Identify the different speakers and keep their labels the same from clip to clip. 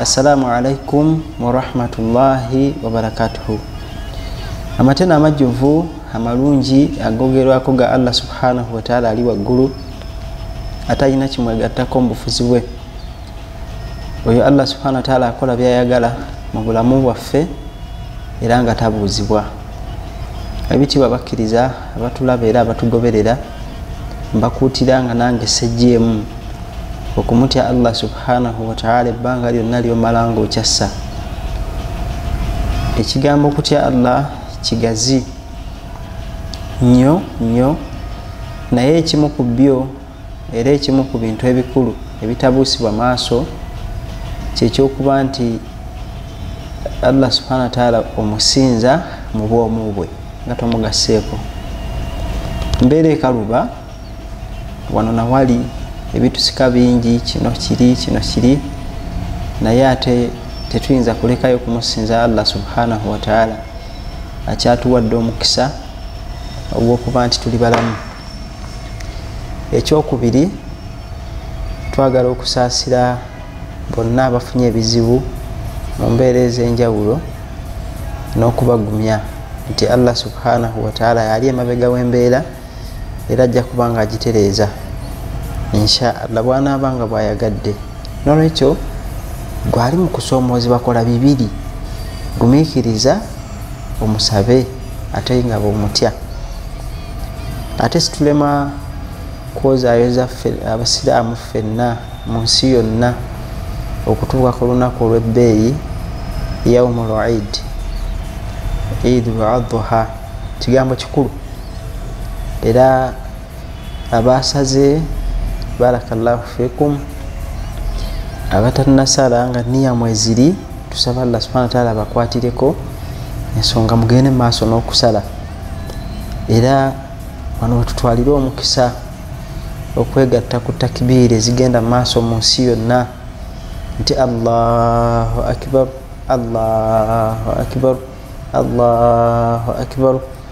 Speaker 1: assalamu alaikum warahmatullahi wabarakatuhu amatena amajjuvu amalungi agogerwako ga allah subhanahu wataala ali waggulu atalina kimwegattako mubufuzi bwe oyo allah subhana wataala akola byayagala mu bulamu bwaffe era nga tabuuzibwa ebitiibwa bakkiriza abatulaba era abatugoberera mbakuutira nga nange sejjeemu okumutya allah subhanahu wataala ebbanga lyonna lyomala nga okyassa ekigambo okutya allah kigazi nnyo nnyo naye ekimu ku byo era ekimu ku bintu ebikulu ebitabuusibwa maaso kyekyokuba nti allah subhana wataala omusinza mu bwomu bwe nga tomugasseeko mbeera ekaluba wano nawali ebitusika bingi kino kiri kino kiri naye ate tetuyinza kulekayo kumusinza allah subhanahu wataala akyatuwadde omukisa ogwokuba nti tuli balamu ekyokubiri twagala okusaasira bonna abafunye ebizibu mu mbeera ez'enjawulo n'okubagumya nti allah subhanahu wataala yali emabega w'embeera era ajja kuba nga agitereeza insha allah bwanaaba nga bwayagadde nolwekyo gwali mu kusoomoozebwa kola bibiri gumiikiriza omusabe ate nga bwemutya ate situlema kwozaayo zaffe abasiraamu ffenna mu nsi yonna okutuuka ku lunaku olw'ebbeeyi yaumu luid idu adha kigambo kikulu era abaasaze barakallahu fikum abatanasala nga niya mweziri tusaba allah subhana wataala abakwatireko ensonga mugende mu maaso n'okusala era wano wetutwalire omukisa okwegatta ku takibiiri ezigenda mu maaso mu nsi yonna nti allahu akibar allahu akibar allahu akibaru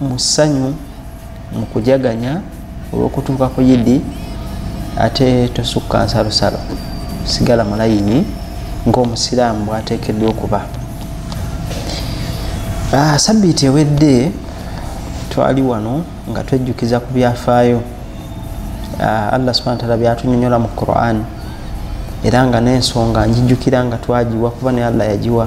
Speaker 1: mu ssanyu mu kujaganya olw'okutuuka ku yidi ate tosukka nsalosalo sigala mu layini ng'omusiraamu bwateekeddwa okuba ah, sabiiti ewedde twali wano nga twejjukiza ku byafaayo ah, allah subhana taala byatunyonyola mu quran era nga n'ensonga njijjukira nga twagiwa kuba naye allah yagiwa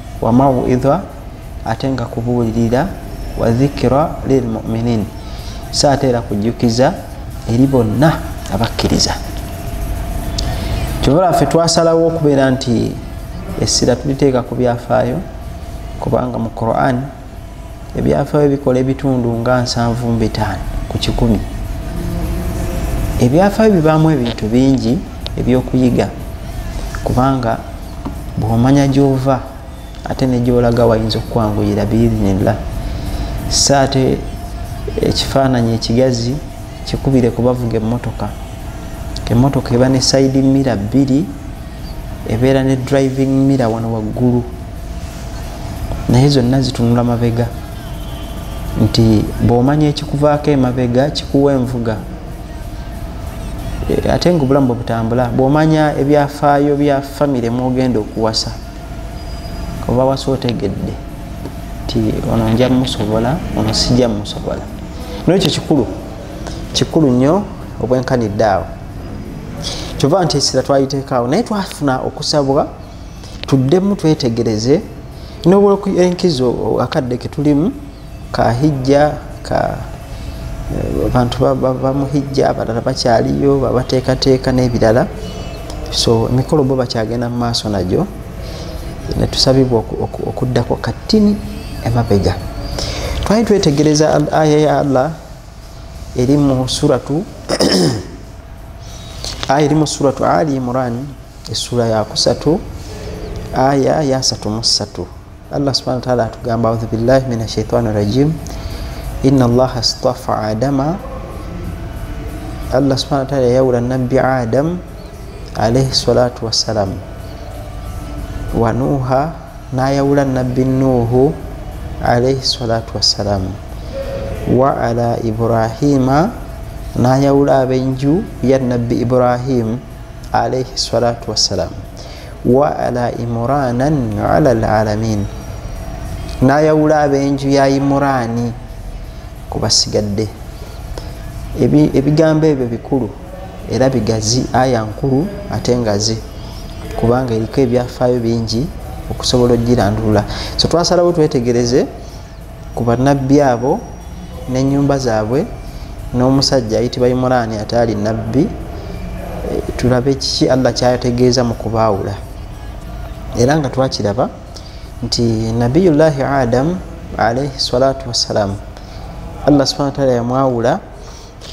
Speaker 1: wa mauidha ate nga kubuulirira wa dhikira lilmuminin so ate era kujjukiza eri bonna abakkiriza kyobola ffe twasalawo okubeera nti essira tuliteeka ku byafaayo kubanga mu quran ebyafayo bikola ebitundu nga nsanvu mbitaano ku kikumi ebyafayo bibaamu ebintu bingi ebyokuyiga kubanga bwomanya gyova ate negyolaga wayinza okukwanguyira biiznillah sa ate ekifaananyi ekigazi kikubire kubavuga emotoka emotoka eba ne saidi mira bbiri ebeera ne driving mira wano waggulu naye zonna zitunula mabega nti bwomanya ekikuvaako emabega kikuwa envuga eh, ate nga obulamu bwebutambula bwomanya ebyafaayo bya famire mwogenda okuwasa oba wasa otegedde nti ono nja musobola ono sijja musobola nekyo kikulu kikulu nnyo obwenkanidde awo kyova nti esira twayiteekaawo naye twafuna okusabwa tuddemu twetegereze nobwoku enkizo akadde ketulimu kahijja ka eh, abantu bamuhijja abalala bakyaliyo babateekateeka n'ebirala so emikolo bo bakyagenda mu maaso nagyo netusabibwa okuddako kattini emabega twali twetegereza aya ya allah eri mu suratu aya eri mu suratu ali imurani essuula yakusatu aya yasatu mu ssatu allah subhana wataala atugamba audhu billahi min ashaitani rajim ina allaha stafa adama allah subhana wataala yayawula nabbi adamu alaihi salatu wassalam wa nuuha nayawula nabbi nuuhu alaihi salatu wassalam wa ala ibrahima nayawula abenju ya nabbi ibrahim alaihi salatu wassalam wa ala imuranan ala lalamin nayawula abenju ya imurani kubasigadde ebigambo ebyo bikulu era bigazi aya nkulu ate ngazi kubanga eriko ebyafaayo bingi okusobola okugirandulula so twasalawo twetegereze ku bannabbi abo n'ennyumba zaabwe n'omusajja ayitibwa imuraani ataali nabbi eh, tulabe kiki allah kyategeeza mu kubaawula era nga twakiraba nti nabiyullahi adamu alaihi salatu wassalaamu allah subhana wataala yamwawula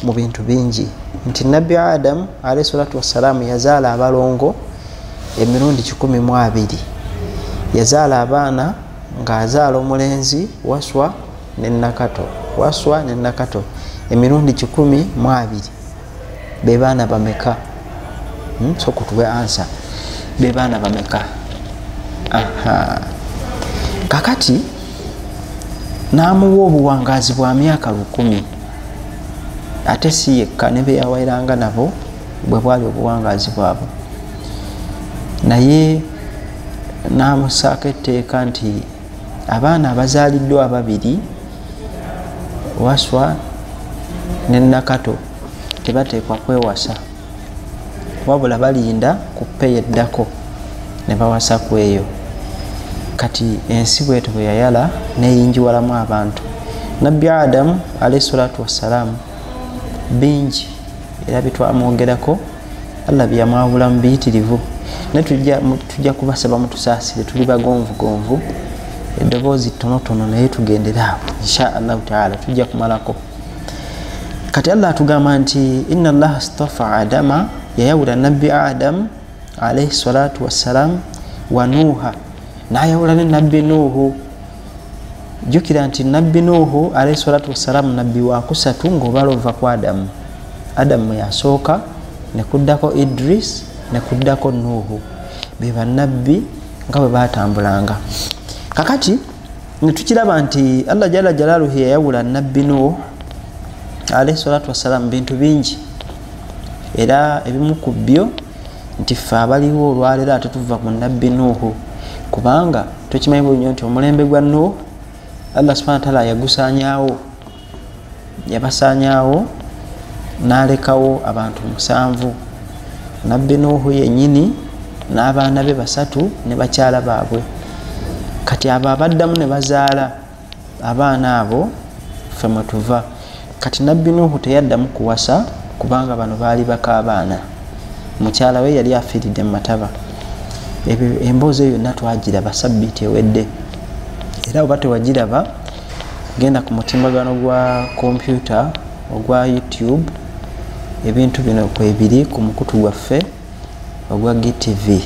Speaker 1: mu bintu bingi nti nabbi adamu alaihi salatu wassalaamu yazaala abalongo emirundi 12 yazaala abaana ng'azaala omulenzi waswa ne nakato waswa ne nakato emirundi kikumi mu abiri be baana bameka hmm, so kutuwe ansa be baana bameka kakati n'amuwa obuwangaazi bwa myaka lukumi ate si yekka ne beyawairanga nabo bwe bwali obuwangaazi bwabwe naye n'amusaako etteeka nti abaana abazaaliddwa ababiri waswa ne nakato tebateekwa kwewasa wabula balinda ku peyi eddako ne bawasa ku eyo kati ensi bwetu bwe yayala neyingiwalamu abantu nabbi adamu alaihi salatu wassalaamu bingi era bitwamwogerako allah byeyamwawula mu biyitirivu naye tujja kubasaba mutusaasire tuli bagonvugonvu eddoboozi ttonotono naye tugendere awo insha allahu taala tujja kumalako kati allah atugamba nti ina allaha stafa adama yayawula nabbi adamu alaihi salatu wassalam wa nuuha nayawula ne nabbi nuuhu jjukira nti nabbi nuuhu alaihi salatu wassalamu nabbi wakusatu ngaobala ova ku adamu adamu yasooka nekuddako idris nekuddako nuuhu be banabbi nga bwe batambulanga kakati netukiraba nti allah jala jalaluhi yayawula nabbi nuuhu alaihi salatu wassalamu bintu bingi era ebimu ku byo nti ffe abaliwo olwaleero ate tuva ku nabbi nuuhu kubanga tukimanyi bulunyo nti omulembe gwa nuuhu allah subhana wataala yagusanyawo yabasanyawo nalekawo abantu musanvu nabbi nuuhu yenyini n'abaana be basatu ne bakyala baabwe kati abo abaddamu ne bazaala abaana abo fe mwetuva kati nabbi nuhu teyaddamu kuwasa kubanga bano baali bakaabaana mukyala we yali afiiridde mumataba ebyo emboozi eyo yonna twagiraba sabbiiti ewedde era oba tewagiraba genda ku mutimbagano gwa kompyuta ogwa youtube ebintu bino kwebiri ku mukutu gwaffe ogwa gtv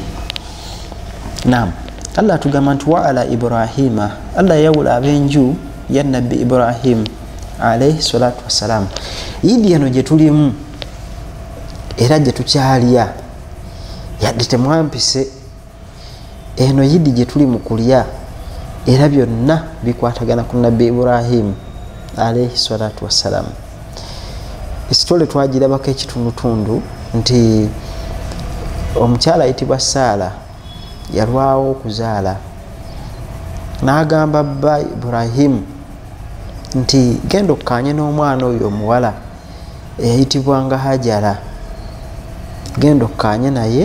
Speaker 1: nam allah atugamba nti waala ibrahima allah yawula abenju ya nabbi ibrahim alaihi salatu wassalamu idi eno gyetulimu era gyetukyalya yadde temwampise eno yidi gye tuli mu kulya era byonna bikwatagana ku nabbi ibrahimu alaihi salatu wassalamu esitole twagirabako ekitundutundu nti omukyala ayitibwa saala yalwawo okuzaala n'agamba bba ibrahimu nti genda okukanye n'omwana oyo omuwala eyayitibwanga hajara genda okukanye naye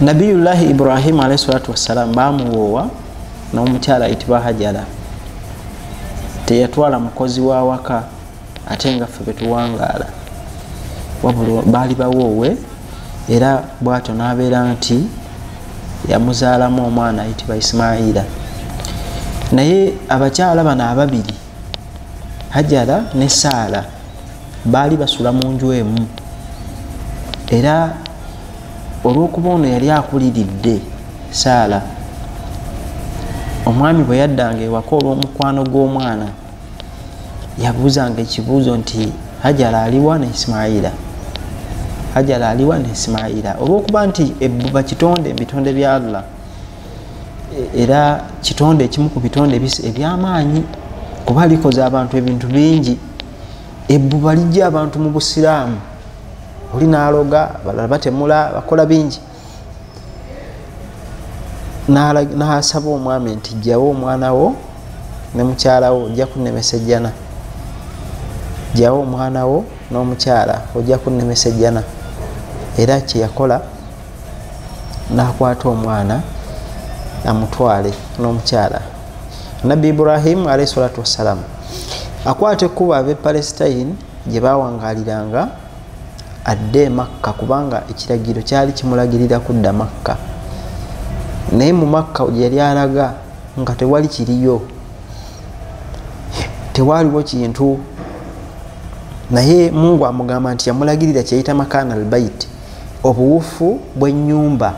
Speaker 1: nabiyullahi ibrahimu alaihi salatu wassalamu bamuwoowa n'omukyala ayitibwa hajara teyatwala mukozi wa waka ate nga ffe betuwangaala wabula baali bawoowe era bwatyo n'abeera nti yamuzaalamu omwana ayitibwa isimaila naye abakyala bano ababiri hajara ne saala baali basula mu nju emu era olw'okuba ono yali akuliridde saala omwami bwe yaddanga ewaka olw'omukwano gw'omwana yabuuzanga ekibuuzo nti hajara aliwa ne isimaila hajara aliwa ne isimaila olw'okuba nti ebbuba kitonde mu bitonde bya allah era kitonde ekimu ku bitonde ebyamaanyi kuba likoze abantu ebintu bingi ebbuba lijja abantu mu busiraamu oli naloga balala batemula bakola bingi nasaba omwami nti jawo omwana wo ne mukyalawo ojja kunemesa ejjana jawo omwana wo n'omukyala ojja kunemesa ejjana era kyeyakola nakwata omwana amutwale n'omukyala nabbi ibrahimu alaihi salatu wassalamu akwata ekkuba abe palestine gye bawangaliranga adde emakka kubanga ekiragiro kyali kimulagirira kudda makka naye mu makka yali alaga nga tewali kiriyo tewaliwo kintu naye mungu amugamba nti yamulagirira kyeyita makana albaiti obuwufu bw'ennyumba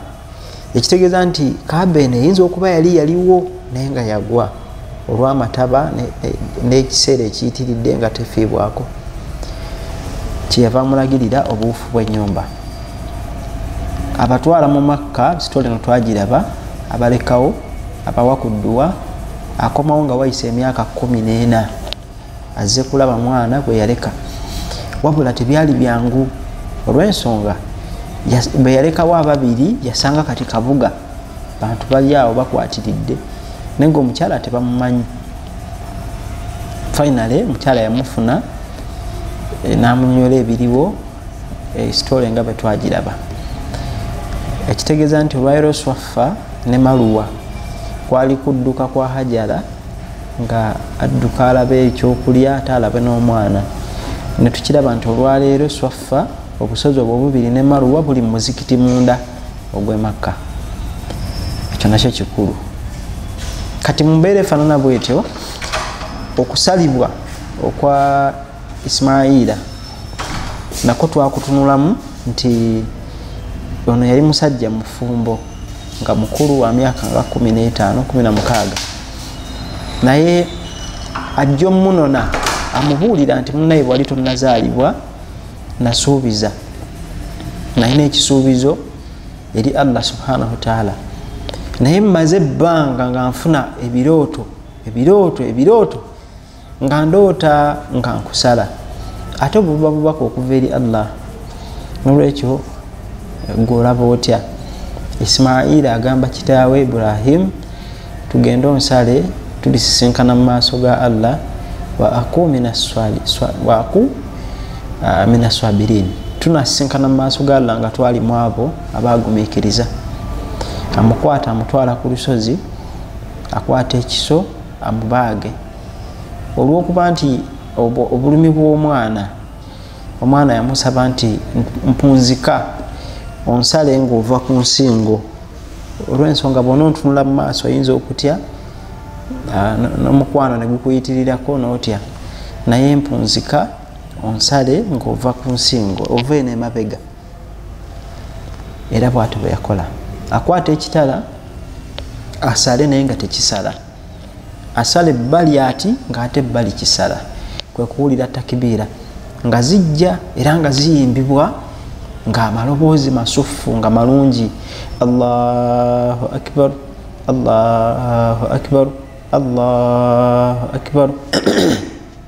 Speaker 1: ekitegeeza nti kaaba eno eyinza okuba yali yaliwo naye nga yagwa olw'amataba n'ekiseera ekiyitiridde nga tefiibwako kyeyava amulagirira obuwufu bw'ennyumba abatwala mu makka sitole no twagiraba abalekawo abawa ku dduwa akomawo nga wayisa emyaka kumi n'ena azze kulaba mwana gwe yaleka wabula tebyali byangu olw'ensonga bwe yalekawo ababiri yasanga kati kabuga bantu bali awo bakwatiridde naye nga omukyala tebamumanyi finally omukyala yamufuna eh, namunyola ebiriwo eh, sitole nga bwetwagiraba ekitegeeza nti olwairoswaffa ne maluwa kwali kudduka kwa hajara nga adduka alabe ekyokulya ate alabe n'omwana netukiraba nti olwaleero swaffa obusozi obwo bubiri ne maruwa buli mumuzikiti munda ogwemakka ekyo nakyo kikulu kati mumbeera efanana bwetyo okusalibwa okwa ismaila nako twakutunulamu nti ono yali musajja mufumbo nga mukulu wa myaka nga 1516 naye ajja omunona amubuulira nti munaye bwali tonazaalibwa nasuubiza nalina ekisuubizo eri allah subhanahu wataala naye mmaze ebbanga nga nfuna ebirooto ebirooto ebirooto nga ndoota nga nkusala ate obuba bubaka okuva eri allah nolwekyo gwolaba otya isimaila agamba kitaawe ibrahim tugende onsale tulisisinkana mu maaso ga allah waaku minaswabirin ah, tunasisinkana mu maaso ga allah nga twali mu abo abagumikiriza amukwata amutwala ku lusozi akwata ekiso amubaage olwokuba nti obulumi bw'omwana omwana yamusaba nti mpunzika onsale ngaova ku nsingo olwensonga bona ontunula mu maaso oyinza okutya ah, n'omukwano ne gukuyitirirako n'otya naye mpunzika onsale ngaova ku nsingo ova eno emabega era bwati bweyakola akwata ekitala asale naye nga tekisala asala ebbali ati ngaate ebbali kisala kwekuwulira takibiira nga zijja era nga ziyimbibwa ngaamaloboozi masuffu nga malungi allahu akbar allahu akbar allahu akbar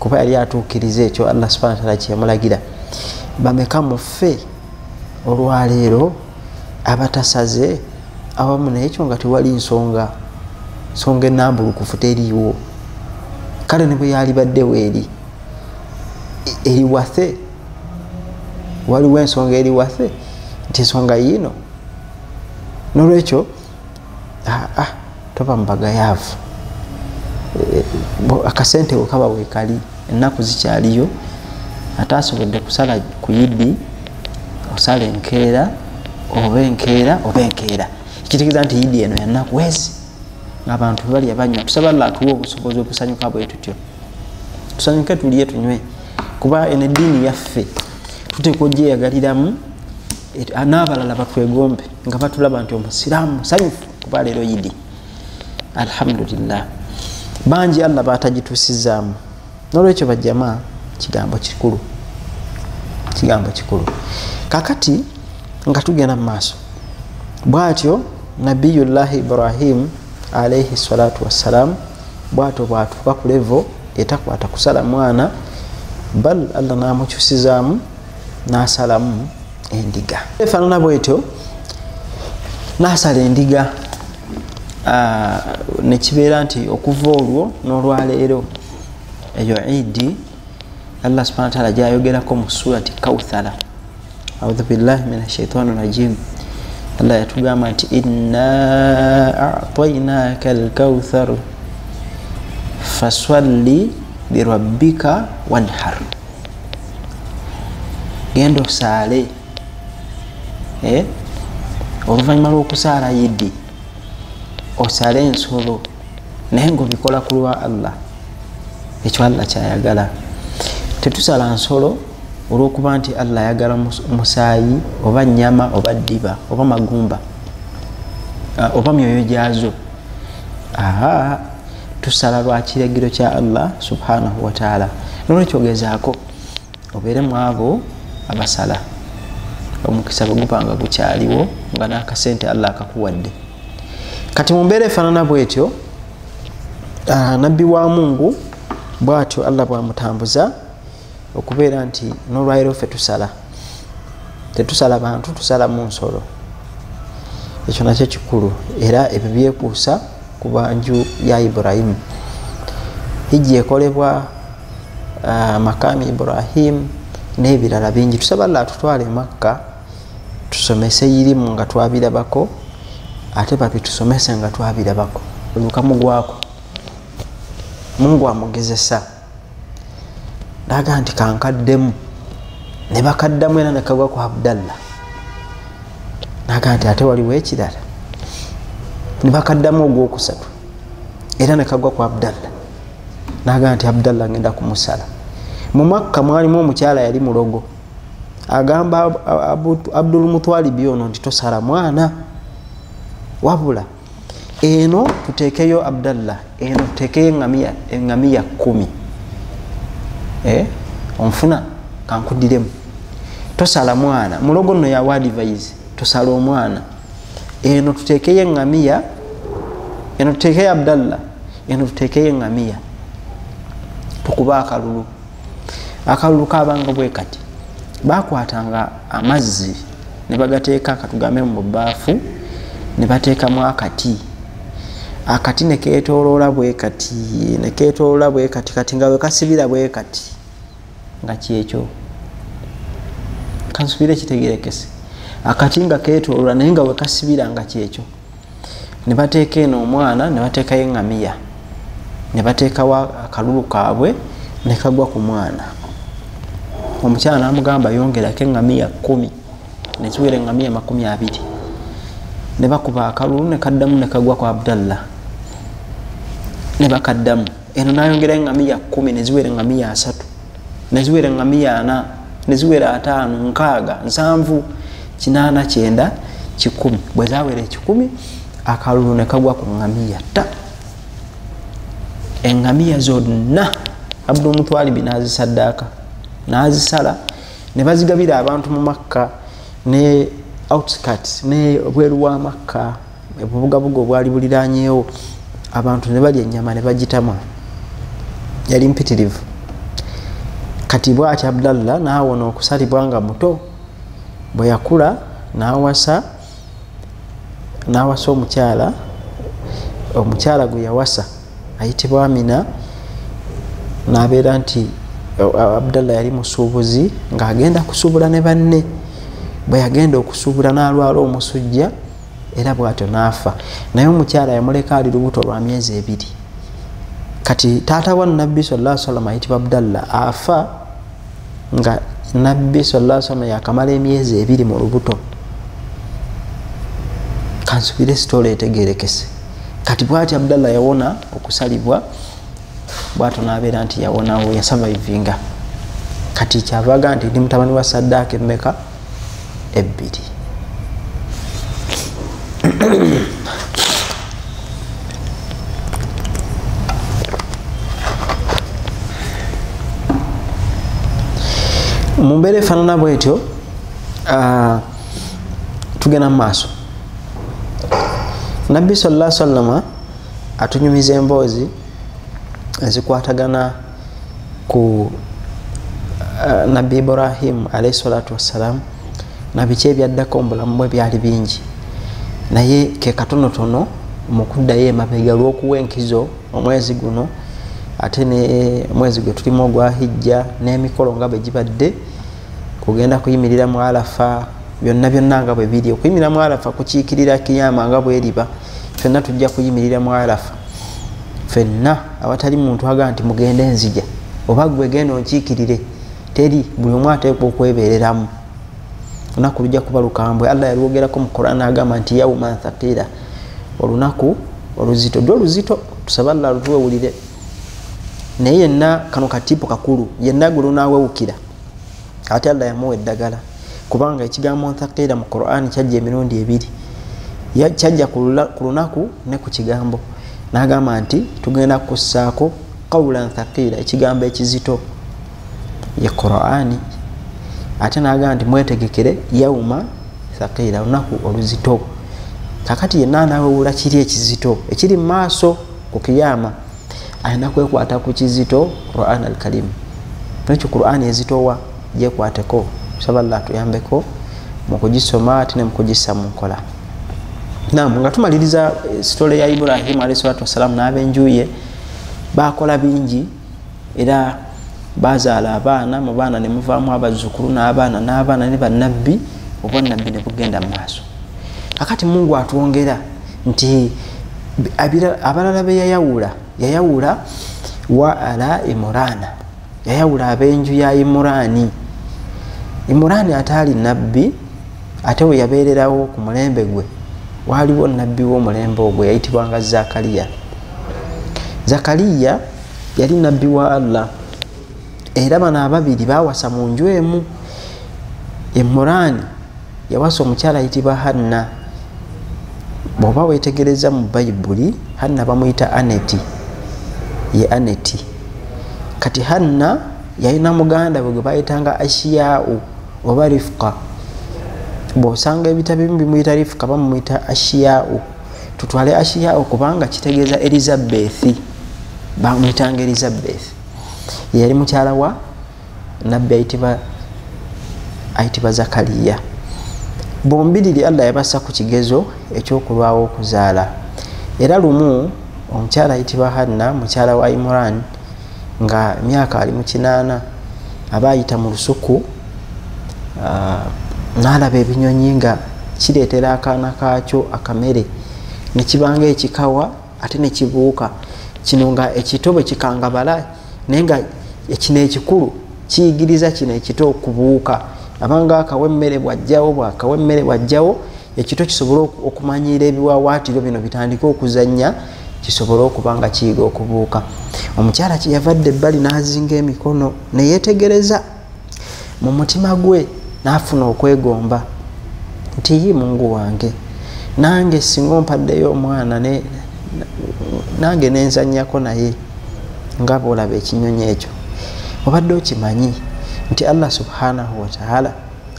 Speaker 1: kuba yali atuukiriza ekyo allah subhana wataala kyeyamulagira bameka muffe olwaleero abatasaze awamu naye ekyo nga tewali nsonga nsonga enambulukufu teriiwo kale ne bwe yalibaddewo eri eriwathe waliwo ensonga eriwathe nti ensonga yiino nolwekyo ah, ah, toba mubagayaavu eh, akasente wekaba wekali ennaku zikyaliyo ate asobodde kusala ku yidi osala enkeera oba enkeera oba enkeera ekitegeeza nti yidi eno yanaku wezi ngaabantu balya banywa tusaba llah atuwa obusobozi obusanyuka bwe tutyo tusanyuke tulye tunywe kuba eno eddiini yaffe tuteeka ogyeyagaliramu Ah, n'abalala batwegombe nga batulaba nti omusiraamu musanyufu kuba leero yidi alhamdulillah bangi allah batagituusizaamu nolwekyo bajama kigambo kikulu kigambo kikulu kakati nga tugenda mu maaso bwatyo nabiyullahi ibrahim alaihi salatu wassalam bwatyo bwatuuka ku levo etakwata kusala mwana bal allah namukyusizaamu n'asalamu endiga efaanana bwetyo n'asala endiga ah, ne kibeera nti okuva olwo n'olwaleero eyo idi allah subhana wataala gyayogerako mu surati kauthara audhu billahi min ashaitani rajim allah yatugamba nti inna atainaka alkauthar faswalli lirabbika wanhar genda osaale eh? oluvannyuma lw'okusaala yidi osaale ensolo naye ngaobikola ku lwa allah ekyo allah kyayagala tetusala nsolo olwokuba nti allah ayagala musaayi oba nyama oba ddiba oba magumba ah, oba myoyo gyazo aa tusala lwa kiragiro kya allah subhanahu wataala nolwekyogezaako obeere mu abo abasala omukisa bwegubanga gukyaliwo nga nakasente allah akakuwadde kati mumbeera efanana bwetyo ah, nabbi wa mungu bwatyo allah bwamutambuza okubeera nti nolwaliro ffe tusala tetusala bantu tusala mu nsolo ekyo nakyo kikulu era ebyo byekuusa ku banju ya ibrahimu hijja ekolebwa ah, makaami ibrahimu n'ebirala bingi tusaba llah tutwale emakka tusomese irimu nga twabirabako ate babitusomese nga twabirabako olukamugwako mungu amugezesa naga nti kankaddemu ne bakaddamu era nekagwa ku abdallah naga nti ate waliwo ekirala ne bakaddamu ogwokusatu era nekagwa ku abdallah naga nti abdallah ngenda kumusala mu makka mwalimu omukyala yali mulogo agamba abdulmutwalibi ono nti tosala mwana wabula eno tuteekeyo abdallah eno tuteekeyo engamiya engamiya kumi eh? onfuna kankudiremu tosala mwana mulogo no yawa advise tosala omwana eno tuteekeyo engamiya eno tuteekeyo abdallah eno tuteekeyo engamiya tukuba akalulu akalulu kabanga bwe kati bakwatanga amazzi ne bagateeka katugambe mu bubaafu ne bateekamu akati akati ne keetooloola bwe kati ne keetooloola bwe kati kati nga wekasibira bwe kati nga kyekyo kansubire kitegerekese akati nga keetooloola naye nga wekasibira nga kyekyo nebateeka eno omwana nebateekayo engamiya nebateekawo akalulu kaabwe nekagwa ku mwana omukyala namugamba yongerako engamiya kumi nekiwera engamiya makumi abiri nebakuba akalulu nekaddamu nekagwa ku abdallah nebakaddamu eno nayongerayo engamiya kumi neziwera engamiya asatu neziwera ngamiya ana neziwera ataano nkaaga nsanvu kinaana kyenda kikumi bwe zawera ekikumi akalulu ne kagwa ku ngamiya ta engamiya zonna abdu omutwalibi nazisaddaaka nazisala ne bazigabira abantu mu makka ne outskirts ne bweru wa makka obubugabuga obwali buliranyeewo abantu ne balya ennyama ne bagitama yali mpitirivu kati bwati abdallah naawona okusalibwa nga muto bwe yakula nawasa nawasa omukyala omukyala gwe yawasa ayitibwa amina nabeera nti abdallah yali musuubuzi ng'agenda kusuubula ne banne bwe yagenda okusuubula n'alwala omusujja era bwatyo naafa naye omukyala yamuleka ali lubuto lwa myezi ebiri kati taata wa nabbi sala salama ayitibwa abdalla afa nga nabbi sala salama yakamala emyezi ebiri mu lubuto kansubire sitoola etegerekese kati bwati abdalla yawona okusalibwa bwato nabeera nti yawonawo yasavaivinga kati kyavaga nti ndi mutabani wa saddaaka emmeka ebbiri mu mbeera efaanana bwetyo ah, tugenda mu maaso nabbi salla sallama atunyumiza emboozi ezikwatagana ku uh, nabbi ibrahimu alaihi salatu wassalamu nabiki ebyaddako mubulamu bwe byali bingi naye kekatonotono mukuddayo emabega lwokuwa enkizo omwezi guno ate nemwezi gwe tulimu ogwa hijja n'emikolo nga bwe gibadde kugenda kuyimirira mu alafa byonna byonna nga bwe biri okuyimirira mu alafa kukiikirira kiyama nga bweriba fenna tujja kuyimirira mu alafa fenna awatali muntu agamba nti mugende nzija oba gwe genda onkiikirire teri buli omu ateekwa okwebeereramu olunaku lujja kuba lukambwe allah yalwogerako mu quran agamba nti yauman thaqira olunaku oluzito lwo luzito tusaba allah lutuwewulire naye yenna kano katiipo kakulu yenna gwe lunawewukira ate allah yamuwa eddagala kubanga ekigambo nthaqiila mu quran kyajja emirundi ebiri kyajja ku lunaku ne ku kigambo nagamba nti tugenda kukussaako qawula nthaqiila ekigambo ekizito ye qurani ate nagamba nti mwetegekere yauma thaqiila lunaku oluzito kakati yenna anawewula kiri ekizito ekiri mu maaso ku kiyama alina kwekwata ku kizito quran al karim nekyo quran ezitowa jekwateko saba llah tuyambeko mukugisoma ate nemukugissa mu nkola nam nga tumaliriza eh, sitole ya ibrahimu alahi salatu wassalamu n'abenjuye bakola bingi era bazaala abaana mu baana nemuvaamu abazzukulu n'abaana n'abaana ne bannabbi obwannabbi ne bugenda mu maaso kakati mungu atwongera nti abalala be yayawula yayawula wa ala imurana yayawula ab'enju ya imurani imurani ataali nabbi ate we yabeererawo ku mulembe gwe waaliwo nabbi w'omulembe ogwo yayitibwanga zakariya zakariya yali nabbi wa allah era bano ababiri bawasa mu nju emu emurani yawasa omukyala ayitibwa hanna bwoba wetegereza mu bayibuli hanna bamuyita aneti ye aneti kati hanna yalina muganda bwe gwe bayitanga ashiyau oba rifuka bwosanga ebitabo ebimu bimuyita rifuka bamumuyita ashiyau tutwale ashiyau kubanga kitegeeza elizabethi bamuyitanga elizabethi yeyali mukyala wa nabbi ayitibwa ayitibwa zakariya bombiriri allah yabassa ku kigezo ekyokulwawo okuzaala era lumu omukyala ayitibwa hanna mukyala wa imuran nga myaka ali mu kinaana aba ayita mu lusuku ah, naalaba ebinyonyi nga kireetera akaana kaakyo akamere nekibanga ekikawa ate nekibuuka kino nga ekito bwe kikangabala naye nga ekino ekikulu kiyigiriza kino ekito okubuuka abanga akawa emmere bwajjawo bwakawa emmere bwajjawo ekito kisobole okumanyiira ebiwawaatiro bino bitandike okuzannya kisobole okuba nga kiyiga okubuuka omukyala kyeyavadde ebbali n'azinga emikono neyetegereza mu mutima gwe n'afuna okwegomba nti yi mungu wange nange singa ompaddeyo omwana nange nenzanyako naye nga bwolaba ekinyonyi ekyo obadde okimanyi nti allah subhanahu wataala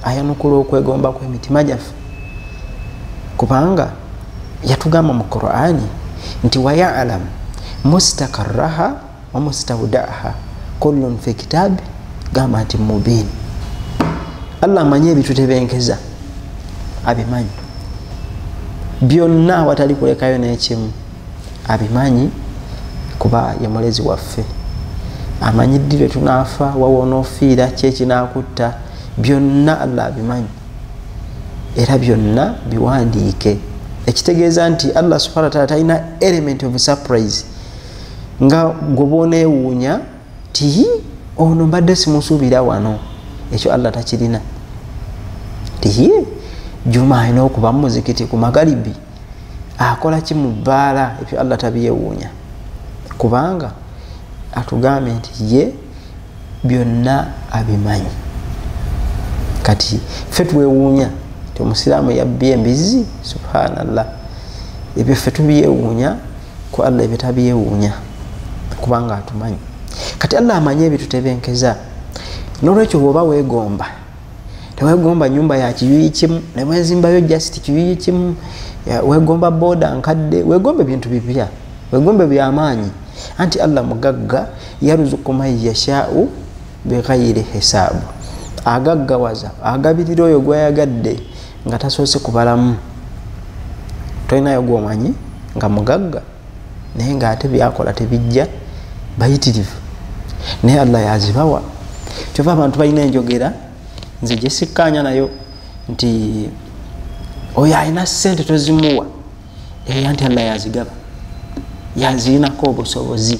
Speaker 1: ayanukula okwegomba kwemitima gyaffe kubanga yatugamba mu qurani nti wayalamu mustakaraha wamustaudaha kullun fi kitabi gamba nti mubin allah amanyi ebitutebenkeza abimanyi byonna awatali kulekayo n'ekimu abimanyi kuba ye mulezi waffe amanyi ddi lwe tunaafa wawonoofiira kyekinakutta byonna allah abimanyi era byonna biwandiike ekitegeeza nti allah subhana wataala talina element of surprise nga gwe bwoneewuunya ti ono mbadde simusuubira wano ekyo allah takirina tiye juma alina okuba mumuzikiti ku magalibi akola ki mu bbaala ebyo allah tabyewuunya kubanga atugambye nti ye byonna abimanyi kati fe twewuunya ti omusiraamu yabbye embizzi subhanallah ebyo fe tubyewuunya ku allah ebitabyewuunya kubanga atumanyi kati allah amanyi ebitutebenkeza nolwekyo bwoba wegomba tewegomba nyumba ya kiyuyi kimu newezimbayo just kiyuyi kimu wegomba boda nkadde wegomba ebintu bipya wegomba byamaanyi anti allah mugagga yaruzuku man yashau bighairi hisaabu agaggawaza agabirira oyo gwayagadde nga tasoose kubalamu tolinayo gwomanyi nga mugagga naye nga ate byakola tebijja bayitirivu naye allah yazibawa kyova abantu balina enjogera nze gyesikkaanya nayo nti oyo alina sente tozimuwa eya nti allah yazigaba yazirinako obusobozi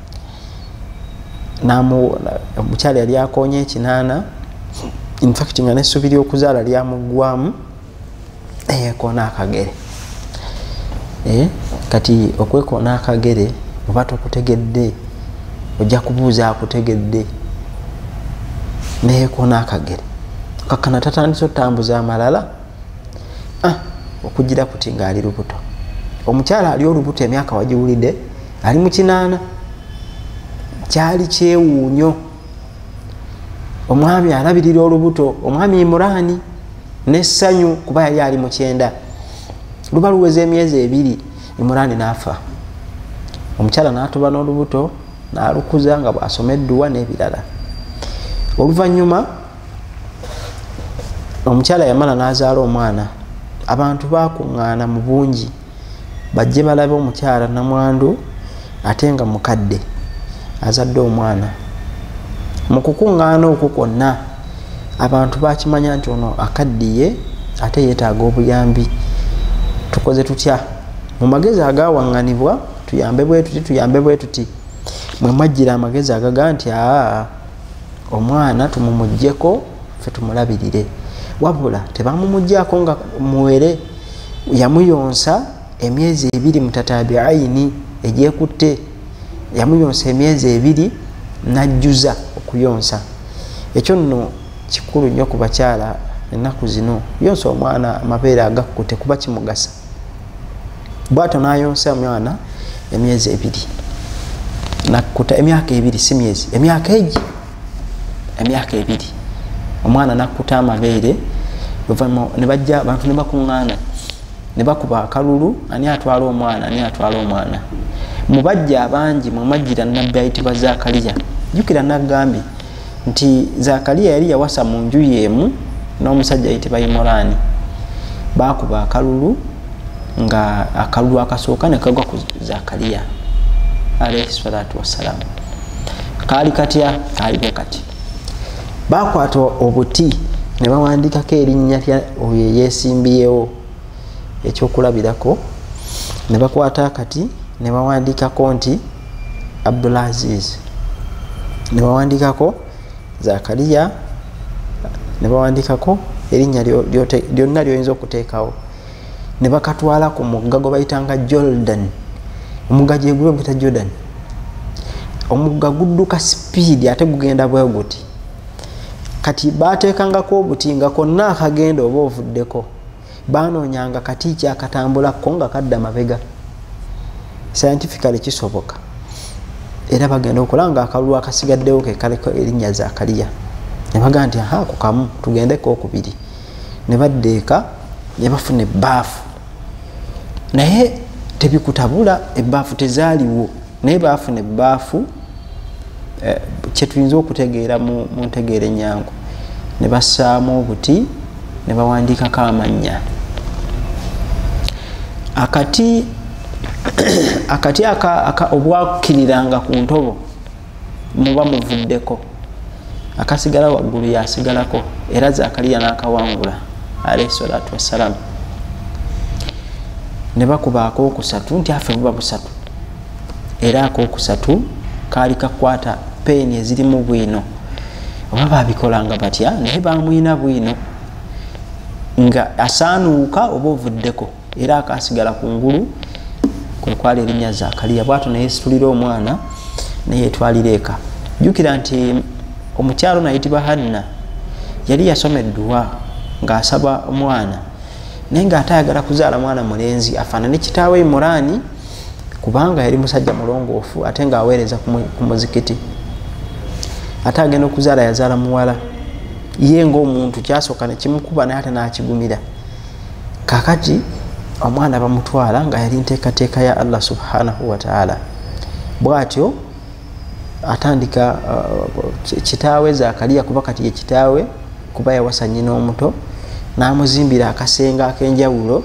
Speaker 1: omukyala yali akonya ekinaana infact nga nesubi lyokuzaala lyamugwamu eyekona akagere eh, kati okwekona akagere oba tokutegedde ojja kubuuza akutegedde neyekona akagere kakana tatandise otambuza amalala ah, okugira kuti ngaali lubuto omukyala ali olubuto emyaka wagiwulidde ali mukinaana kyali kyewuunyo omwami alabirira olubuto omwami imuraani nessanyu kuba yali ali mukyenda luba luweza emyezi ebiri imuraani naafa omukyala natuba n'olubuto nalukuza nga bwasoma edduwa n'ebirala oluvannyuma omukyala yamala nazaala omwana abantu bakuŋŋaana mu bungi bajje balabe omukyala namwandu ate nga mukadde azadde omwana mu kukuŋŋaana okwo kwonna abantu bakimanya nti ono akaddiye ate yeetaaga obuyambi tukoze tutya mu magezi agawaŋŋanibwa tuyambe bwe tuti tuyambe bwe tuti mwe mwajjira amagezi agaga nti aa omwana tumumugyeko fe tumulabirire wabula tebamumugyako nga muwere yamuyonsa emyezi ebiri mutatabi ayini egyekutte yamuyonsa emyezi ebiri najjuza okuyonsa ekyo nno kikulu nnyo ku bakyala ennaku zino yonsa omwana amabeere agakkute kuba kimugasa bwato nayonsa mwana emyezi ebiri nakuta emyaka ebiri si myezi emyaka egi emyaka ebiri omwana nakuta amabeere luvanyuma nebajja abantu nebakuŋŋaana nebakuba akalulu ani atwala omwana ani atwala omwana mubajja abangi mumajjira nabbi ayitibwa zakaliya jukira nagambye nti zakaliya yali yawasa mu nju yeemu n'omusajja yitibwa imoraani baakuba akalulu nga akalulu akasooka ne kagwa ku zakaliya alaihi salatu wassalamu kaali katya kaali bwe kati baakwata obuti ne bawandiikako erinnya lya oyo eyeesimbyewo ekyokulabirako ne bakwata akati ne bawandiikako nti abdulaziz nebawandikako zakariya nebawandikako erinnya lyonna lyoyinza okuteekawo ne bakatwala ku mugga gwe bayitanga jordan omugga gyegube guyita jordan omugga gudduka sipiidi ate gugenda bwe guti kati baateekangako obuti nga konna akagenda oba ovuddeko banoonyanga kati kyakatambulakko nga kadda mabega scientifically kisoboka era bagenda okola nga akalulu akasigaddewo kekaleko erinnya zakaliya nebaga nti aha ku kamu tugendeko okubiri ne badda eka ne bafuna ebbaafu naye tebikutabula ebbaafu tezaaliwo naye baafuna ebbaafu eh, kyetuyinza okutegeera mu ntegeera enyangu ne bassaamu obuti ne bawandiikako amannya akati akati obwakiriranga ku ntobo muba muvuddeko akasigala waggulu yasigalako era zakaliya nakawangula alaihi salatu wassalamu ne bakubaako okusatu nti afe buba busatu era akokusatu kaali kakwata peeni ezirimu bwino oba babikolanga batya naye bamwina bwino nga asaanuuka oba ovuddeko era akasigala ku ngulu kwekwala erinnya zakaliya bwato neyesitulira omwana neyetwalira eka jukira nti omukyalo nayitibwa hanna yali yasoma edduwa ngaasaba omwana naye ngaate ayagala kuzaala mwana mulenzi afaanane kitaawe imuraani kubanga yali musajja mulongoofu ate nga aweereza ku muzikiti ate agenda okuzaala yazaala muwala ye ngaomuntu kyasooka nekimukuba naye ate nakigumira kakati omwana bamutwala nga yali nteekateeka ya allah subhanahu wataala bwatyo atandika uh, kitaawe zakaliya kuba kati ye kitaawe kuba yawasa nyina omuto n'amuzimbira akasenga ak'enjawulo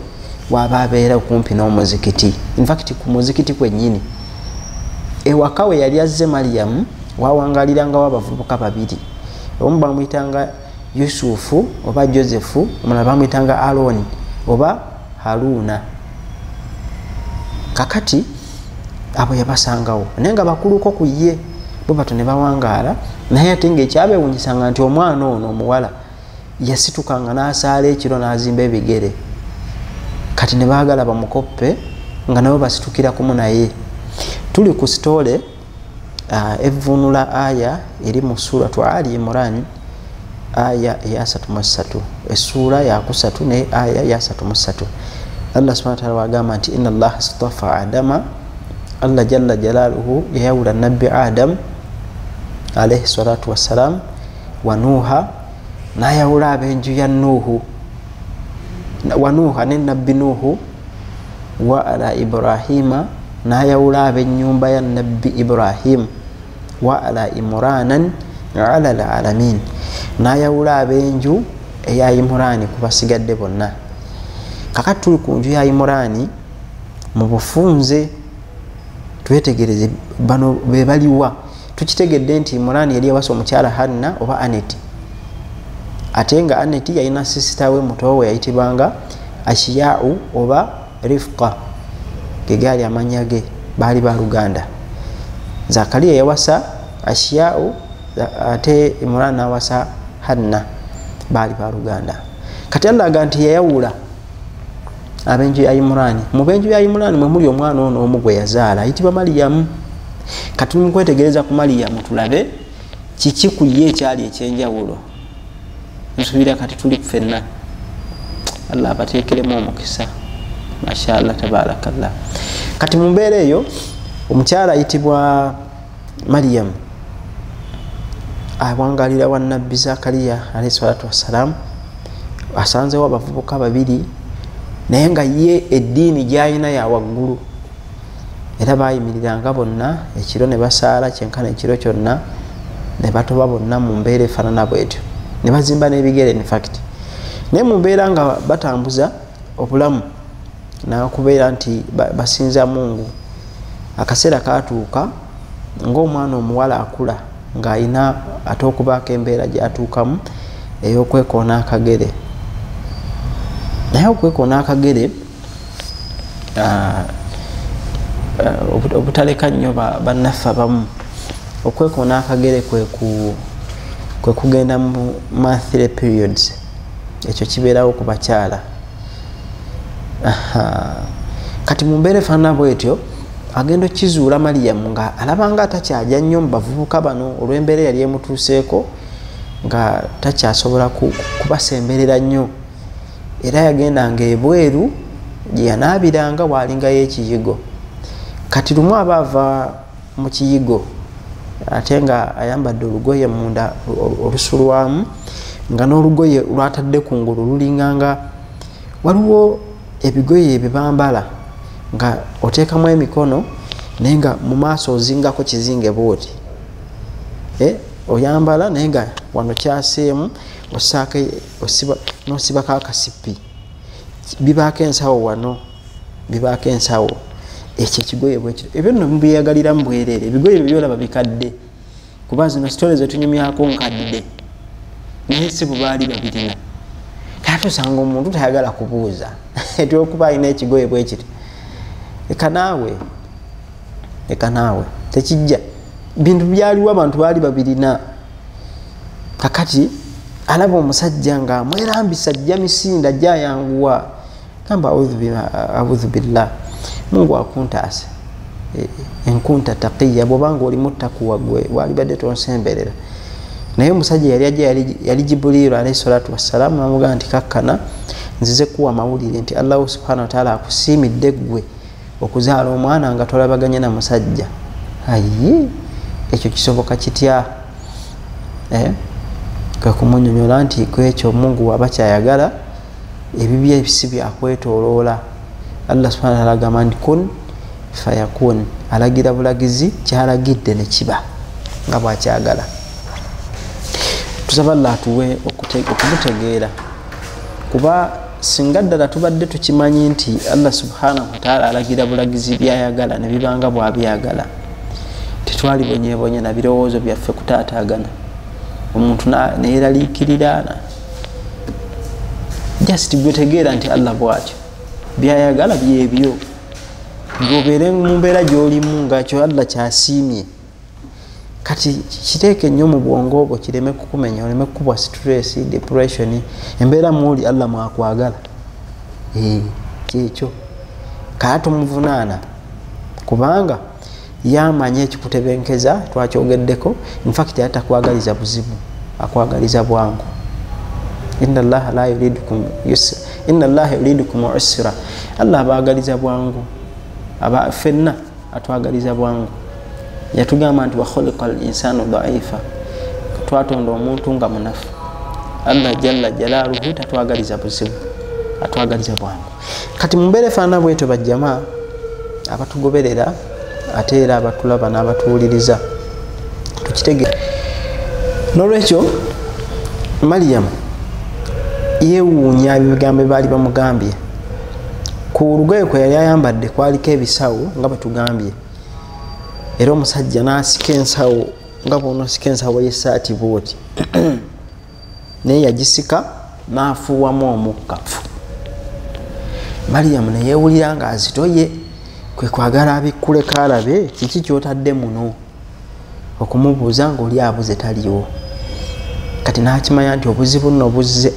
Speaker 1: waaba abeera okumpi n'omuzikiti infact ku muzikiti kwennyini ewaka we yali azze mariyamu wawangalirangawo abavubuka babiri omu bamuyitanga yusufu oba josefu omulala bamuyitanga aroni oba haruuna kakati abo yabasangawo naye nga bakuluko ku ye bo bato ne bawangaala naye ate ngaekyabewunyisanga nti omwana ono omuwala yasitukanga n'asaala ekiro n'azimba ebigere kati ne baagala bamukoppe nga nabo basitukira kumu naye tuli ku sitoole uh, evvuunula aya eri mu suratu ali imran aya eyasatu mu ssatu essuula yakusatu ne aya yasatu mu ssatu allah subhana wataala wagamba nti ina allaha stafa adama allah jalla jalaaluhu yayawula nabbi adamu alaihi salatu wassalamu wa nuuha nayawula abenju ya nuuhu wa nuuha ne nabbi nuuhu wa ala ibrahima nayawula abenyumba ya nabbi ibrahim wa ala imuranan ala lalamin nayawula abenju eya imurani kubasigadde bonna kakati tuli ku nju ya imurani mu bufunze twetegereze bano bebaliwa tukitegedde nti imurani yali yawasa omukyala hanna oba aneti ate nga aneti yalina sisita we mutowe yayitibwanga ashiyau oba rifqa gegaali amanya ge baali baluganda zakariya yawasa ashiyau ate imurani nawasa hanna baali baluganda kati allaga nti yayawula abenju ya imurani mu benju ya imurani mwe muli omwana ono omu gwe yazaala ayitibwa maliyamu kati mu kwetegereza ku maliyamu tulabe kiki ku ye ekyali ekyenjawulo nsuubira kati tuli ffenna allah abateekeremu omukisa mashallah tabarakallah kati mu mbeera eyo omukyala ayitibwa mariyamu awangalira wa nabbi zakariya alahi salatu wassalamu asanzewo abavubuka babiri naye nga ye eddiini gyalina yawaggulu era bayimiriranga bonna ekiro ne basaala kyenkana ekiro kyonna ne batoba bonna mu mbeera efaanana bwetyo ne bazimba n'ebigere infact naye mu mbeera nga batambuza obulamu nakubeera nti basinza mungu akaseera katuuka ngaomwana omuwala akula ng'alina ate okubaako embeera gyatuukamu eyokwekoona akagere naye okwekoona akagere ah, ah, obutaleka nnyo bannaffe abamu okwekoona akagere kwe kugenda mu monthly periods ekyo kibeerawo ku bakyala kati mu mbeera efaanana bwetyo agenda okukizuula maliyamu nga alabanga atakyagya nnyo mu bavubuka bano olw'embeera eyali emutuuseeko nga takyasobola kubasemberera nnyo era yagendanga ebweru gyeyanaabiranga waalingayo ekiyigo kati lumu aba ava mu kiyigo ate nga ayambadde olugoye munda olusulwamu nga n'olugoye lwatadde ku ngulu lulinganga waliwo ebigoye ebyo bambala nga oteekamu emikono naye nga mu maaso ozingako kizinge bwoti eh, oyambala naye nga wano kyaseemu osaako nosibako akasipi bibaako ensawo wano bibaako ensawo ekyo ekigoye bwekiro ebyo nno mubiyagalira mu bwereere ebigoye byo byolaba bikadde kuba zino sitole zetunyumyako nkadde naye si bubaali babirina kati osanga omuntu tayagala kubuuza etyokuba alina ekigoye bwekiri leka naawe leka naawe tekijja bintu byaliwo abantu baali babirina kakati alaba omusajja nga amwerambisa ajja misinda ajja ayanguwa gamba audhu billah mungu akuntaase e, enkunta taqiya bwobanga olimu takuwa gwe walibadde tonsemberera naye omusajja yali aja yali jibuliiru alaihi salatu wassalamu namugamba nti kakkana nzize kuwa mawulire nti allahu subhana wataala akusiimidde ggwe okuzaala omwana nga tolabaganye na musajja aye ekyo kisoboka kitya eh? kwekumunyonyola nti kwekyo mungu waba kyayagala ebibyo ebisi byakwetoloola allah subhana taala agamba nti kun fayakun alagira bulagizi kyalagidde nekiba nga bwakyagala tusaba allah atuwe okumutegeera kuba singa ddala tubadde tukimanyi nti allah subhanahu wataala alagira bulagizi byayagala ne bibanga bwabyagala tetwali bonyebonye na birowoozo byaffe kutaatagana omuntu neyeraliikiriraana just gwetegeera nti allah bwatyo byayagala byebyo ngobeere mu mbeera gyolimu ngakyo allah kyasiimye kati kiteeke nnyo mu bwongo obwo kireme kukumenya oleme kukubwa stress depression embeera muuli allah mwakwagala eh, kyekyo kala tumuvunaana kubanga yamanya ekikutebenkeza twakyogeddeko infact atakwagaliza buzibu akwagaliza bwangu ina llaha la yuridukum yusra ina llaha yuridukum usra allah abaagaliza bwangu aba fenna atwagaliza bwangu yatugamba nti wakhuliqa al insanu daifa twatonda omuntu nga munafu allah jalla jalaluhu tatwagaliza buzibu atwagaliza bwangu kati mumbeera efaana bwetyo bajjama abatugoberera ate era abatulaba n'abatuwuliriza tukitegera nolwekyo mariyamu yewuunya ebigambo baali bamugambye ku lugoye kwe yali ayambadde kwaliko ebisawo nga bwetugambye era omusajja nasika ensawo nga bwonosika ensawo yesaati bwoti naye yagisika nafuuwamu omukkafu mariyamu neyewulira nga azitoye kwekwagala abikkule kaalabe kiki kyotadde muno okumubuuza ngaoli abuze taliwo kati nakimanya nti obuzibu nno buzze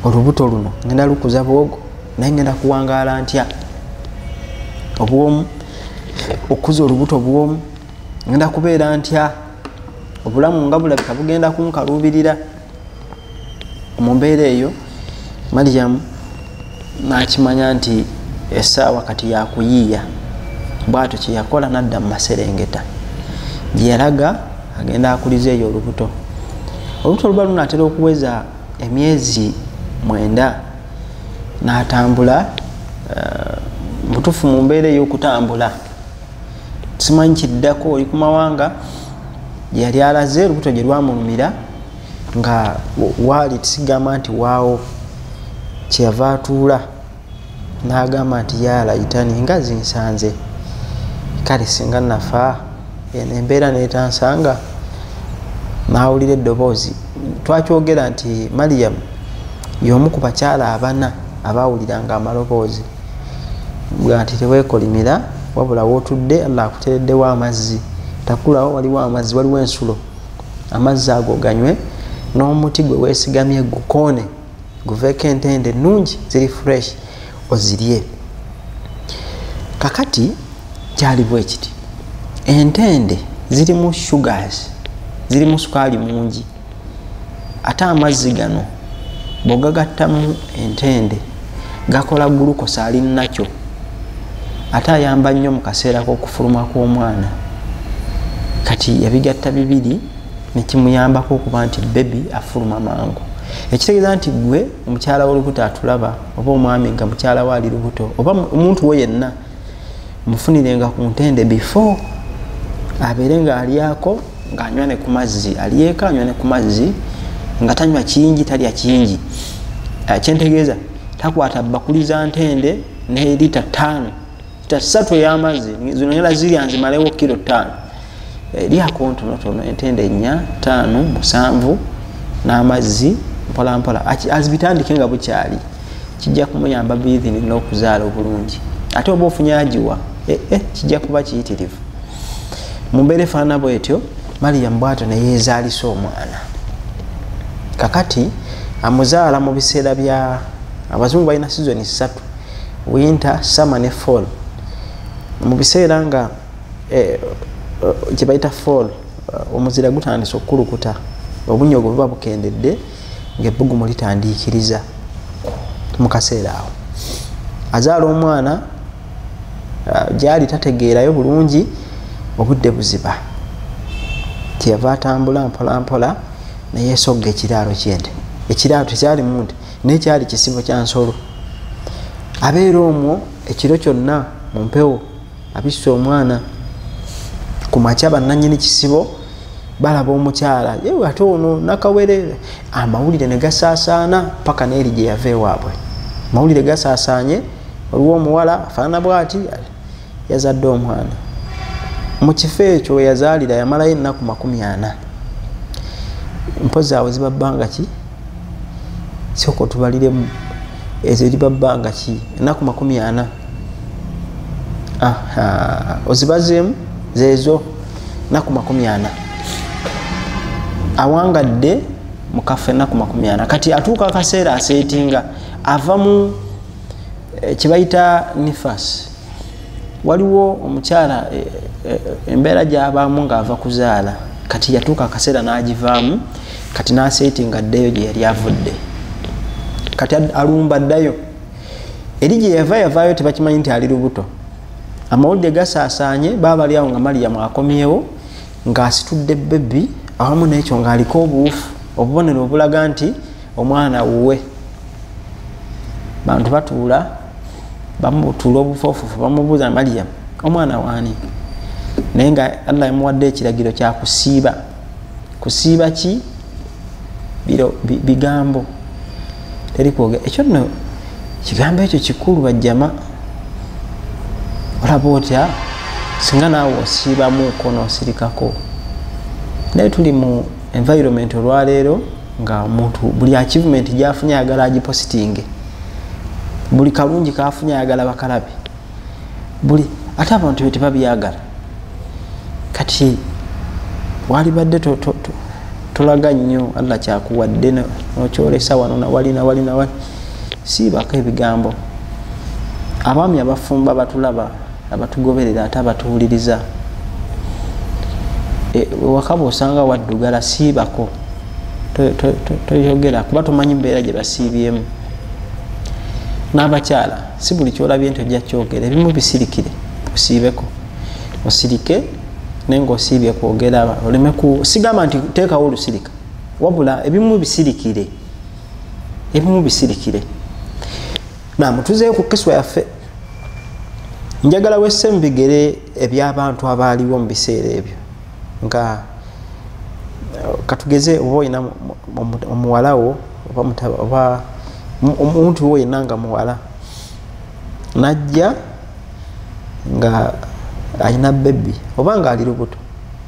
Speaker 1: olubuto luno ngenda lukuza bwogo naye ngenda kuwangaala ntya obwomu okukuza olubuto bwomu ngenda kubeera ntya obulamu nga bulabika bugenda kunkaluubirira mu mbeera eyo mariyamu n'akimanya nti essaawa kati yakuyiiya bwatyo kyeyakola nadda mu maserengeta gyeyalaga agenda akuliza eyo olubuto olubuto luba lunatera okuweza emyezi mwenda natambula eh, mutufu mu mbeera eyokutambula simanyi kiddako oli ku mawanga gyeyali alaze olubuto gye lwamulumira nga waali tisigamba nti waawo kyeyava atuula n'agamba nti yaalayitani nga zinsanze kale singa nafa eno embeera netansanga n'awulira eddoboozi twakyogera nti mariyamu y'omu ku bakyala abana abaawuliranga amaloboozi nga nti teweekolimira wabula wootudde allah akutereddewo amazzi takulawo waliwo amazzi waliwo ensulo amazzi ago ganywe n'omuti gwe weesigamye gukoone guveeko entende ennungi ziri fresh ozirye kakati kyaliwo ekiti entende zirimu sugars zirimu sukaali mungi ate amazzi gano bwogagattamu entende gakola gulukosa ali nakyo ate ayamba nnyo mu kaseera k'okufuluma kw'omwana kati yabigatta bibiri nekimuyambako okuba nti bebi afuluma mangu ekitegeeza nti gwe omukyala wolubuto atulaba oba omwami nga mukyala we ali lubuto oba omuntu wo yenna mufunirenga ku ntende before abeere nga alyako ngaanywa ne ku mazzi alyeko anywa ne ku mazzi nga tanywa kingi talya kingi eh, kyentegeeza takwata bakuli za ntende ne lita ttaano lita ssatu ey'amazzi zino nyala zirya nzimalewo kiro ttaano lyako ntonotono entende ennya taano musanvu n'amazzi mpolampola azibitandike nga bukyali kijja kumuyamba bithini n'okuzaala obulungi ate oba ofunye agiwa eh, eh, kijja kuba kiyitirivu mu mbeera efaanana bwetyo mariyamu bwatyo neyeezaalisa omwana kakati amuzaala mu biseera bya abazungu balina sizoni ssatu winter summer ne fall mu biseera nga eh, eh, kyebayita fall eh, omuzira gutandise okukulukuta obunya obwo buba bukendedde ngaebbugumu litandiikiriza mu kaseera awo azaala omwana gyali tategeerayo bulungi obudde buziba kyeyava atambula mpolampola neyesogga ekiraalo kyente ekiraalo tekyalimu nti naye kyali kisibo kya nsolo abeera omwo ekiro kyonna mu mpewo abisse omwana ku makya bannanyini kisibo balaba omukyala yewe ate ono nakawere amawulire ne gasaasaana paka neeri gye yava ewaabwe amawulire gasaasaanye waliwo omuwala afaanana bwati yazadde omwana mu kifo ekyo weyazaalira yamalayo ennaku makumi ana mpozi awo zibabbanga ki sooka otubaliremu ezo eriba bbanga ki enaku makumi ana ozibazeemu zeezo enaku makumi ana awangadde mukaffe enaku makumi ana kati atuuka akaseera aseetinga ava mu eh, kyebayita nifasi waliwo omukyala e, e, embeera gyabaamu ng'ava kuzaala kati yatuuka akaseera n'agivaamu kati n'aseeti nga ddeyo gye yali avudde kati alumba ddayo eri gye yava yavaayo tebakimanyi nti ali lubuto amawulire gasaasaanye baabali awo nga maliyamu akomyewo ng'asitudde bebbi awamu n'ekyo ng'aliko obuwufu obubonero obulaga nti omwana wuwe bantu batuula bamutula obufofufu bamubuuza mariyamu omwana waani naye nga allah yamuwadde ekiragiro kyakusiiba kusiiba ki biro bigambo teri kwogera ekyo nno kigambo ekyo kikulu bajjama olaba otya singa naawe osiibamu konosirikako naye tuli mu environment olwaleero nga muntu buli achievement gyafunye ayagala agipositinge buli kalungi kafunye ayagala bakalabe buli ate abantu be tebabyagala kati walibadde tolaga nnyo allah kyakuwadde nokyolesa wano nawali nawali nawali siibako ebigambo abaami abafumba batulaba abatugoberera ate abatuwuliriza e, wakaba osanga waddugala siibako toyogera kuba tomanyi mbeera gye basiibyemu n'abakyala si buli kyolabye nti ojja kyogera ebimu bisirikire osiibeko osirike naye ngaosiibye kwogera oleme ku sigamba nti teekawo olusirika wabula ebimu bisirikire ebimu bisirikire nam tuzeeyo ku kiswa yaffe njagala wesse mu bigere ebyabantu abaaliwo mu biseera ebyo nga katugeze oba olina omuwalawo oba omuntu wo yenna nga muwala najja nga alina bebi oba nga ali lubuto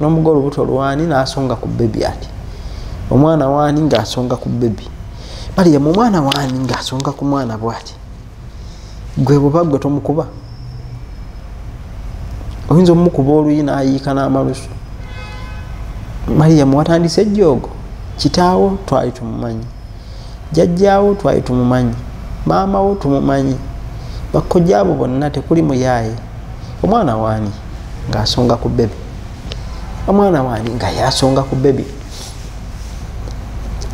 Speaker 1: nomuga olubuto lwani nasonga ku bebi ati omwana wani ngaasonga ku bebi mariyamu omwana wani ngaasonga ku mwana bwati gwe buba gwe tomukuba oyinza omukuba oluyi nayiika n'amalusu mariyamu watandise ejjoogo kitaawo twali tumumanyi jajjaawo twali tumumanyi maama wo tumumanyi bakojja abo bonna tekuli muyaaye omwana waani ngaasonga ku bebi omwana waani nga yasonga ku bebi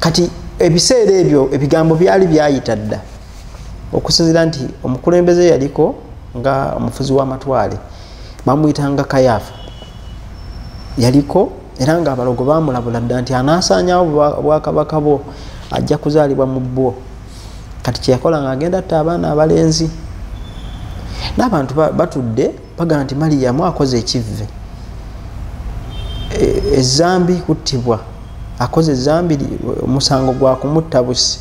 Speaker 1: kati ebiseera ebyo ebigambo byali byayita dda okusinzira nti omukulembeze yaliko nga omufuzi w'amatwale bamuyitanga kayaafa yaliko era ng'abalogo baamulabula dda nti anaasaanyawo obwakabaka bwo ajja kuzaalibwa mu bwo kati kyeyakola ng'agenda atta abaana abalenzi n'abantu batudde bagamba nti maliyamu akoze ekivve ezambi e, kuttibwa akoze ezambi omusango gwa kumutta busi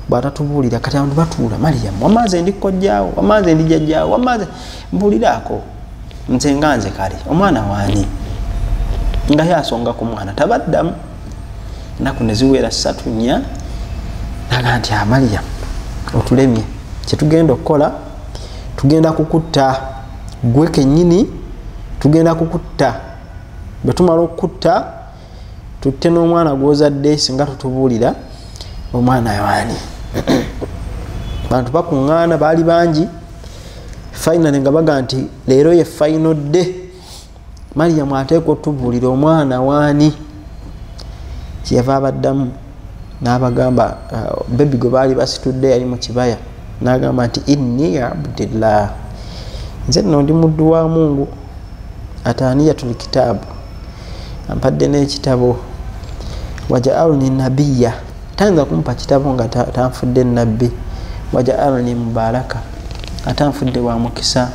Speaker 1: bwatatubuulira kati abantu batuula maliyamu wamaze ndi kkojjaawo wamaze ndi jjajjaawo wamaze mbuuliraako nze nga nze kale omwana wani nga yasonga ku mwana tabaddamu enaku neziwera satu nya naga nti amaliya ah, otulemye kyetugenda okukola tugenda kukutta gwe kenyini tugenda kukutta bwetumala okukutta tutte n'omwana gwozadde singa tutubuulira omwana waani bantu bakuŋŋaana baali bangi fainale nga baga nti leero ye faino dde mariyamu ateeka otubuulira omwana waani kyeyava abaddamu n'abagamba uh, bebi gwe baali basitudde yali mu kibaya n'agamba nti inni abdillah nze nno ndi muddu wa mungu ataaniyatul kitaabu ampadde n'ekitabo wajaalni nabiya tayinza kumpa kitabo nga tanfudde nabbi wajaalni mubaraka atanfudde wa mukisa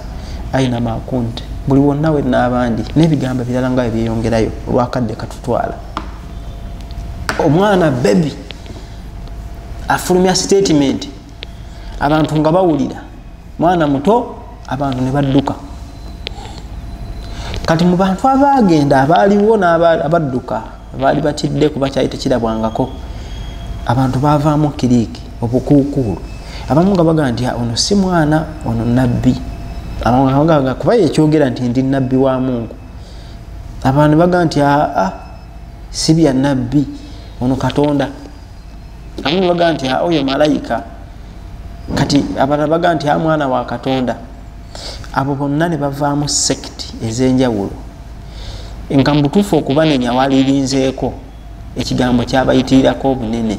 Speaker 1: ayina makunti buli wonna we n'abandi n'ebigambo ebirala nga bye byeyongerayo olwakadde katutwala omwana bebi afulumya sitatimenti abantu nga bawulira mwana muto abantu ne badduka kati mu bantu abaagenda abaaliwo abadduka baali batidde kuba kyali tekirabwangako abantu baavaamu kiriiki obukuukuulu abamu nga baga nti ah, ono si mwana ono nabbi kuba yekyogera nti ndi nabbi wa mungu abantu baga nti aa ah, ah, si bya nabbi ono katonda abamu baga nti ah, oyo malayika kati abalala baga nti a mwana wa katonda abo bonna ne bavaamu sekiti ez'enjawulo nga mubutuufu okubanenya walirinzeeko ekigambo kyabayitirirako obunene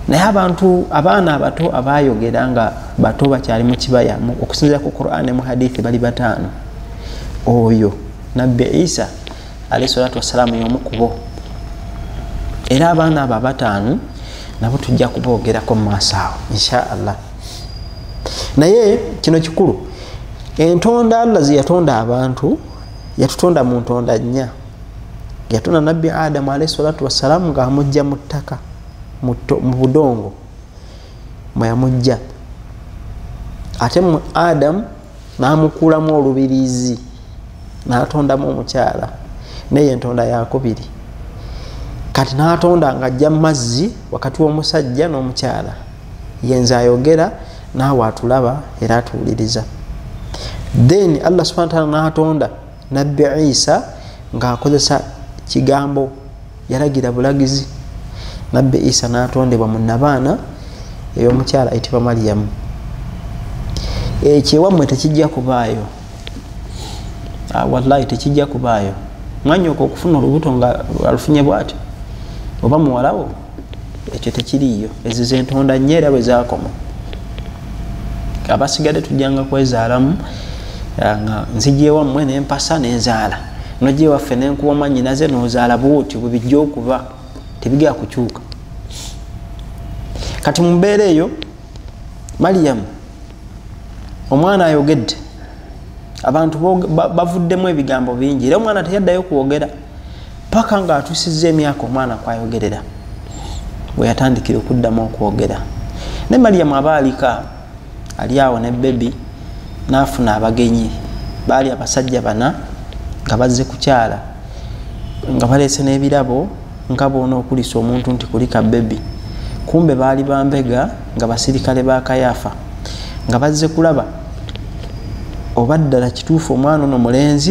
Speaker 1: naye abantu abaana abato abayogera nga bato bakyali mukibaya okusinzira ku quran ne muhadithi bali bataano oyo nabbi isa alahi salatu wassalamu yomu kubo era abaana abo abataano nabo tujja kuboogerako mu maaso awo inshaallah naye kino kikulu entonda allah zeyatonda abantu yatutonda mu ntonda nnya yatonda nabbi adamu alaihi salatu wassalamu nga amujja mu ttaka mu budongo mweyamujja ate mu adamu namukuulamu olubirizi natondamu omukyala naye entonda yakubiri kati natonda nga ajja mumazzi wakati womusajja nomukyala yenze ayogera naawe atulaba era atuwuliriza then allah subhana taala natonda nabbi isa ng'akozesa kigambo yalagira bulagizi nabbi isa n'atondebwa mu nabaana ey'omukyala ayitibwa mariyamu ekyewammwe tekijja kubaayo ah, wallahi tekijja kubaayo mwanyoko okufuna olubuto nga alufunye bwati oba muwalawo ekyo tekiriiyo ezo zentonda nnyo era bwe zakoma abasigadde tujjanga kwezaalamu eh, nga nzijewammwe nempasa nenzaala nojewaffe nenkuba omanyinaze nozaala bwotyo bwebijja okuba tebigea kukyuka kati mumbeera eyo maliyamu omwana ayogedde abantu bavuddemu ebigambo bingi era omwana teyaddayo kwogera paka nga atusiza emyaka omwana kwayogerera weyatandikira okuddamu okwogera ne mariyamu aba alika ali awo ne bebi nafuna abagenyi baali abasajja bana nga bazze kukyala nga baleese n'ebirabo nga boona okulisa omuntu nti kulika bebi kumbe baali bambega nga basirikale ba kayaafa nga bazze kulaba oba ddala kituufu omwana ono mulenzi